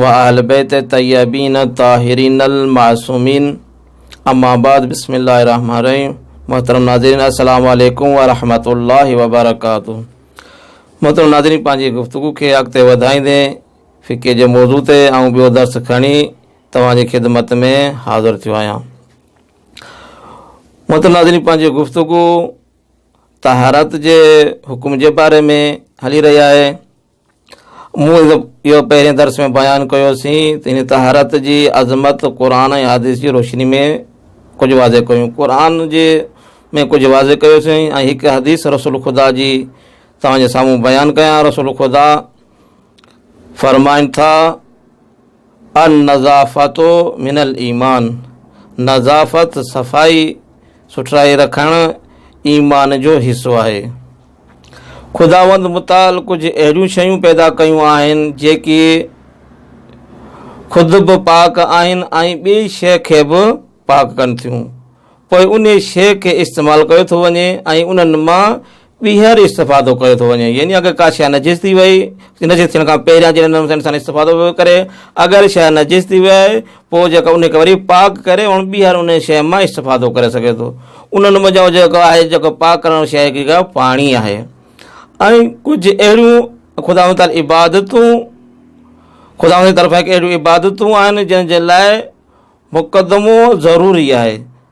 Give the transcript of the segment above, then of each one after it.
و اهل بيت طيبين الطاهرين المعصومين اما بعد بسم الله الرحمن الرحيم محترم ناظرين السلام عليكم ورحمة الله وبرڪاته محترم ناظرين پنهنجي گفتگو کي اڳتي وڌائيندي فقه جي موضوع تي آئون ٻيو درس کڻي توهان جي خدمت ۾ حاضر ٿيو آهيان محترم ناظرين پنهنجي گفتگو طهارت جي حڪم جي باري ۾ هلي رهي آهي مون اهو پهرين درس ۾ بيان ڪيوسين ته هن طهارت جي عظمت قرآن ۽ حادث جي روشني ۾ ڪجهه واضح ڪيون قرآن جي ۾ ڪجهه واضح ڪيوسين ۽ هڪ حديث رسول خدا جي توهان جي سامهون بيان ڪيان رسول خدا فرمائن ٿا ان نظافت من المان نظافت صفائي سٺرائي رکڻ ايمان جو حصو آهي خداوند متعال ڪجهه اهڙيون شيون پيدا ڪيون آهن جيڪي خود به پاڪ آهن ۽ ٻئي شيء کي به پاڪ ڪن ٿيون پوء انهي شيء کي استعمال ڪيو ٿو وڃي ۽ انهن مان ٻيهر استفادو ڪيو ٿو وڃي يعني اگر ڪا شيء نجس ٿي وئي نجس ٿيڻ کان پهريان جنهن نموني سان انسان استفادو پيو ڪري اگر شيء نجس ٿي وئي پوء جيڪو ان کي وري پاڪ ڪري هن ٻيهر ان شيء مان استفادو ڪري سگهي ٿو انهن منجهان جيڪو آهي جيڪو پاڪ ڪرڻ واري شيء جيڪا پاڻي آهي ۽ ڪجهه اهڙيون خداوند تعالي عبادتون خداوند جي طرفان هڪ اهڙيون عبادتون آهن جنهن جي لاء مقدمو ضروري آهي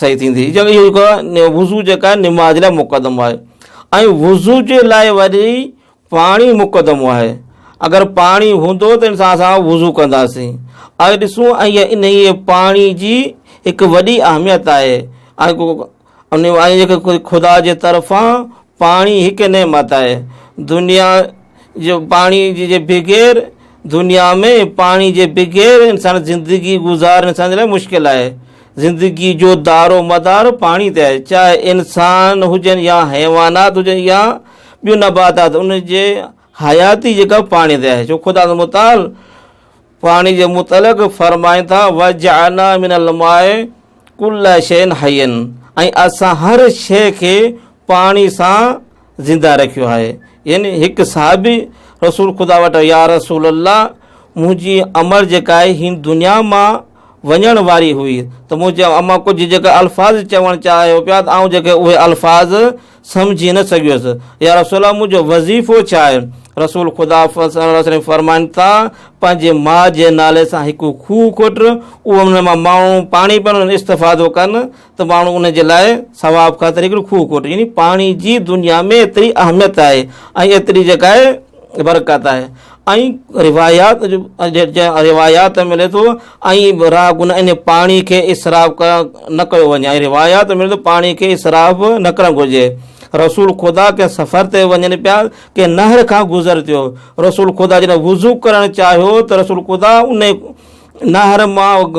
صحيح ٿيندي جو اهو جيڪو آهي وضو جيڪا آهي نماز لاء مقدمو آهي ۽ وضو جي لاء وري پاڻي مقدمو آهي اگر پاڻي هوندو ته انسان سان وضو ڪنداسين اڄ ڏسون ۽ ان ئي پاڻي جي هڪ وڏي اهميت آهي ۽ ان جيڪي خدا جي طرفان پاڻي هڪ نعمت آهي دنيا جو پاڻي جي بغير دنيا ۾ پاڻي جي بغير انسان زندگي گذارڻ انسان جي لاء مشڪل آهي زندگي جو دار و مدار پاڻي تي آهي چاهي انسان هجن يا حيوانات هجن يا ٻيون نباتات ان جي حياتي جيڪا پاڻي تي آهي جو خدا متعال پاڻي جي متعلق فرمائن ٿا، وجعلنا من الماء ڪل شيء حي ۽ اسان هر شيء کي پاڻي سان زنده رکيو آهي يعني هڪ صحابي رسول خدا وٽ يا رسول الله منهنجي امڙ جيڪا آهي هن دنيا مان وڃڻ واري هئي ته منهنجي اما ڪجهه جيڪا الفاظ چوڻ چاهيو پيا ته آئون جيڪي اهي الفاظ سمجهي نه سگهيس، يا رسول الله منهنجو وظيفو ڇا آهي؟ رسول خدا صلي الله عليه وسلم فرمائن ٿا، پنهنجي ماء جي نالي سان هڪ کوهه کوٽ، اهو ان مان ماڻهو پاڻي پين ان استفادو ڪن ته ماڻهو ان جي لاء ثواب خاطر هڪڙي کوهه کوٽ يعني پاڻي جي دنيا ۾ ايتري اهميت آهي ۽ ايتري جيڪا آهي برڪت آهي ۽ روايات روايات ملي ٿو ۽ راڳ ان ان پاڻي کي اسراف ڪرڻ نه ڪيو وڃي ۽ روايات ملي ٿو پاڻي کي اسراف نه ڪرڻ گهرجي رسول خدا ڪنهن سفر تي وڃن پيا ڪنهن نهر کان گذر ٿيو رسول خدا جڏهن وضو ڪرڻ چاهيو ته رسول خدا ان نهر مان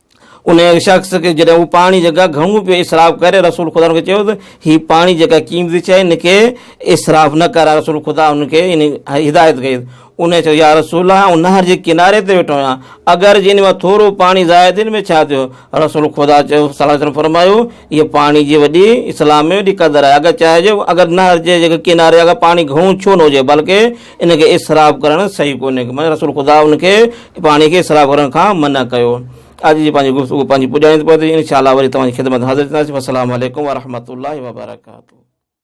ان شخص کي جڏهن هو پاڻي جي ڪا گهڻو پيو اسراف ڪري، رسول خدا ان کي چيو ته هي پاڻي جي ڪا قيمتي شيء ان کي اسراف نه ڪر. رسول خدا ان کي ان هدايت ڪئي. انهيء چيو، يا رسول الله! آئون نهر جي ڪناري تي ويٺو آهيان، اگر جي ان مان ٿورو پاڻي ضايع ٿئي ته مون کي ڇا ٿيو؟ رسول خدا صلي الله عليه وسلم فرمايو، اهي پاڻي جي وڏي اسلام ۾ وڏي قدر آهي. اگر چاهي جو اگر نهر جي ڪناري اگر پاڻي گهڻو ڇو نه هجي بلڪه ان کي اسراف ڪرڻ صحيح ڪونهي معنيٰ رسول خدا ان کي پاڻي کي اسراف ڪرڻ کان منع ڪيو اڄ جي پنهنجي گفتگو پنهنجي پڄائين پهتي انشاء الله وري توهان جي خدمت حاضر ٿينداسين السلام عليڪم ورحمة الله وبرڪاته